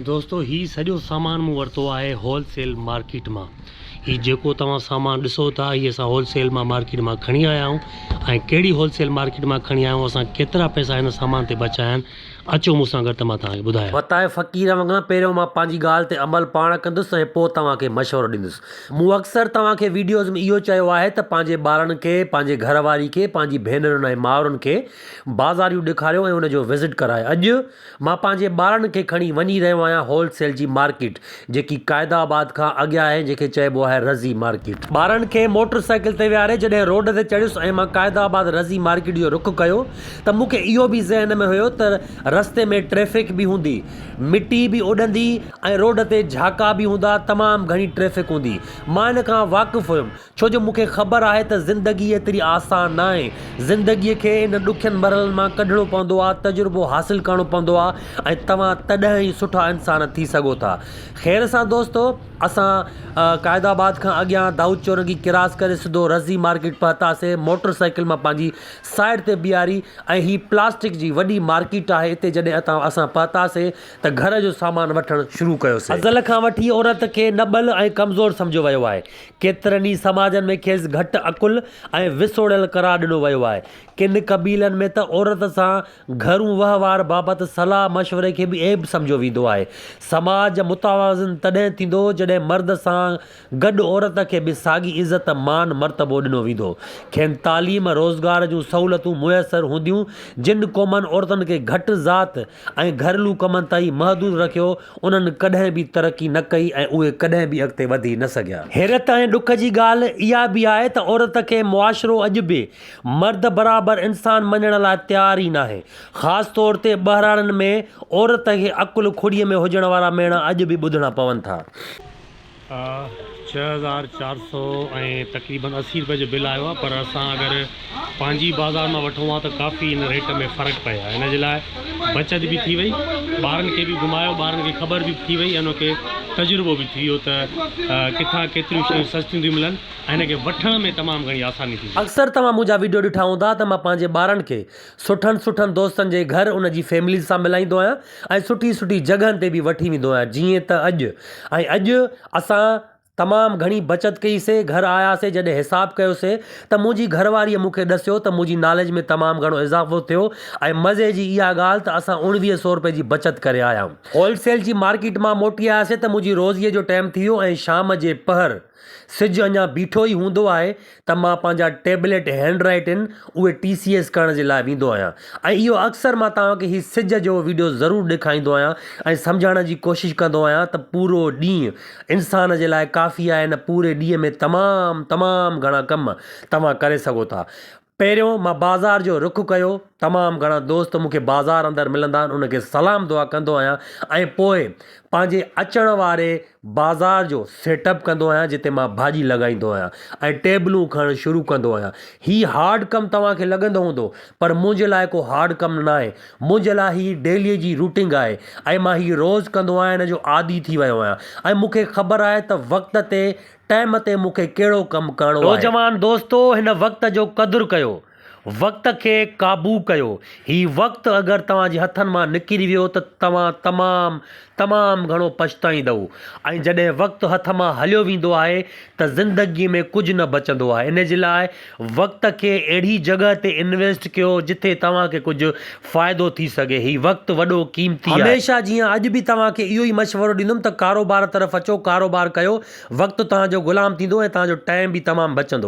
دوستو هي سڄو سامان مون ورتو آهي هول سيل مارڪيٽ مان هي جيڪو توهان سامان ڏسو ٿا هي اسان هول سيل مان مارڪيٽ مان کڻي آيا آهيون ۽ ڪهڙي هول سيل مارڪيٽ مان کڻي آيا آهيون اسان ڪيترا پئسا هن سامان تي بچايا آهن اچو مون سان گڏ ته مان توهانکي ٻڌايان. وتايو فقير وانگر پهريون مان پنهنجي ڳالهه تي عمل پاڻ ڪندس ۽ پوء توهان کي مشورو ڏيندس مون اڪثر توهان کي ويڊيوز ۾ اهو چيو آهي ته پنهنجي ٻارن کي پنهنجي گهر واري کي پنهنجي ڀينرن ۽ مائرن کي بازاريون ڏيکاريو ۽ ان جو وزٽ ڪرايو اڄ مان پنهنجي ٻارڙن کي کڻي وڃي رهيو آهيان هول سيل جي مارڪيٽ جيڪي قائد آباد کان اڳيان آهي جنهن کي چئبو آهي رضي مارڪيٽ. ٻارڙن کي موٽر سائيڪل تي ويهاري جڏهن روڊ تي چڙهيس ۽ مان قائد آباد رضي مارڪيٽ جو رخ ڪيو ته مون کي اهو به ذهن ۾ هيو ته رستي ۾ ٽريفڪ به هوندي، مٽي به اڏندي ۽ روڊ تي جهاڪا به هوندا تمام گهڻي ٽريفڪ هوندي. مان ان کان واقف هيم ڇو جو مون کي خبر آهي ته زندگي ايتري آسان ناهي، زندگي کي انهن ڏکين مرحلن مان ڪڍڻو پوندو آهي، تجربو حاصل ڪرڻو پوندو آهي ۽ توهان تڏهن ئي سٺا انسان ٿي سگهو ٿا. خير سان دوستو اسان قائد آباد کان اڳيان دائود چورنگي ڪراس ڪري سڌو رضي مارڪيٽ پهتاسين، موٽر سائيڪل مان پنهنجي سائيڊ تي بيهاري ۽ هي پلاسٽڪ جي وڏي مارڪيٽ آهي اتي جڏهن اتان اسان پهتاسين ته گهر جو سامان وٺڻ شروع ڪيوسين. ازل کان وٺي عورت کي نٻل ۽ ڪمزور سمجهيو ويو آهي، ڪيترن ئي سماجن ۾ کيس گهٽ عقل ۽ وسوڙيل قرار ڏنو ويو آهي. ڪن قبيلن ۾ ته عورت سان گهرون وهنوار بابت صلاح مشوري کي به عيب سمجهيو ويندو آهي. سماج متوازن تڏهن ٿيندو جڏهن مرد سان گڏ عورت کي به ساڳي عزت، مان، مرتبو ڏنو ويندو. کين تعليم، روزگار جون سهولتون ميسر هونديون. جن قومن عورتن کي گهٽ ذات، ۽ گهرلو ڪمن تائين محدود رکيو، انهن ڪڏهن به ترقي نه ڪئي ۽ اهي ڪڏهن به اڳتي وڌي نه سگهيا. حيرت ۽ ڏک جي ڳالهه اها به آهي ته عورت کي معاشرو اڄ به مرد برابر انسان مڃڻ لاء تيار ئي ناهي. خاص طور تي ٻهراڙين ۾ عورت کي عقل کڙيء ۾ هجڻ وارا ميڻا اڄ به ٻڌڻا پون ٿا. ڇهه هزار چار سئو ۽ تقريبن اسي روپئي جو بل آيو آهي پر اسان اگر پنهنجي بازار مان وٺون ها ته ڪافي ان ريٽ ۾ فرق پئي آهي ان جي لاء بچت به ٿي وئي ٻارن کي به گهمايو ٻارن کي خبر به ٿي وئي ان کي تجربو به ٿي ويو ته ڪٿان ڪيتريون شيون سستيون ٿيون ملن ۽ ان کي وٺڻ ۾ تمام گهڻي آساني ٿي وئي. اڪثر توهان منهنجا وڊيو ڏٺا هوندا ته مان پنهنجي ٻارن کي سٺن سٺن دوستن جي گهر ان جي فيمليز سان ملائيندو آهيان ۽ سٺي سٺي جڳهن تي به وٺي ويندو آهيان جيئن ته اڄ ۽ اڄ اسان تمام گهڻي بچت ڪئي سي گهر آيا سي جڏهن حساب ڪيو سي ته منهنجي گهر واري مون کي ڏسيو ته منهنجي ناليج ۾ تمام گهڻو اضافو ٿيو ۽ مزي جي اها ڳالهه ته اسان اوڻويهه سو روپي جي بچت ڪري آيا هول سيل جي مارڪيٽ مان موٽي آيا سي ته منهنجي روزي جو ٽيم ٿي ويو ۽ شام جي پهر سج اڃا بيٺو ئي هوندو آهي ته مان پنهنجا ٽيبليٽ هينڊ رائيٽ ان اهي ٽي سي ايس ڪرڻ جي لاء ويندو آهيان ۽ اهو اڪثر مان توهان کي هي سج جو ويڊيو ضرور ڏيکائيندو آهيان ۽ سمجهائڻ جي ڪوشش ڪندو آهيان ته پورو ڏينهن انسان جي لاء ڪافي آهي نه پوري ڏينهن ۾ تمام تمام گهڻا ڪم توهان ڪري سگهو ٿا پهريون مان بازار جو رخ ڪيو، تمام گهڻا دوست مون کي بازار اندر ملندا آهن انهن کي سلام دعا ڪندو آهيان ۽ پوء پنهنجي اچڻ واري بازار جو سيٽ اپ ڪندو آهيان جتي مان ڀاڄي لڳائيندو آهيان ۽ ٽيبلون کڻڻ شروع ڪندو آهيان هي هارڊ ڪم توهان کي لڳندو هوندو پر منهنجي لاء ڪو هارڊ ڪم ناهي منهنجي لاء هي ڊيلي جي روٽنگ آهي ۽ مان هي روز ڪندو آهيان هن جو عادي ٿي ويو آهيان ۽ مون کي خبر آهي ته وقت تي ٽائيم تي مون کي ڪهڙو ڪم ڪرڻو آهي. نوجوان دوستو! هن وقت جو قدر ڪيو. وقت کي قابو ڪيو. هي وقت اگر توهان جي هٿن مان نڪري ويو ته توهان تمام تمام گهڻو پڇتائيندؤ ۽ جڏهن وقت هٿ مان هليو ويندو آهي ته زندگي ۾ ڪجهه نه بچندو آهي. ان جي لاء وقت کي اهڙي جڳهه تي انويسٽ ڪيو جتي توهان کي ڪجهه فائدو ٿي سگهي. هي وقت وڏو قيمتي آهي. هميشه جيان اڄ به توهان کي اهو ئي مشورو ڏيندم ته ڪاروبار طرف اچو ڪاروبار ڪيو وقت توهان جو غلام ٿيندو ۽ توهان جو ٽائيم به تمام بچندو.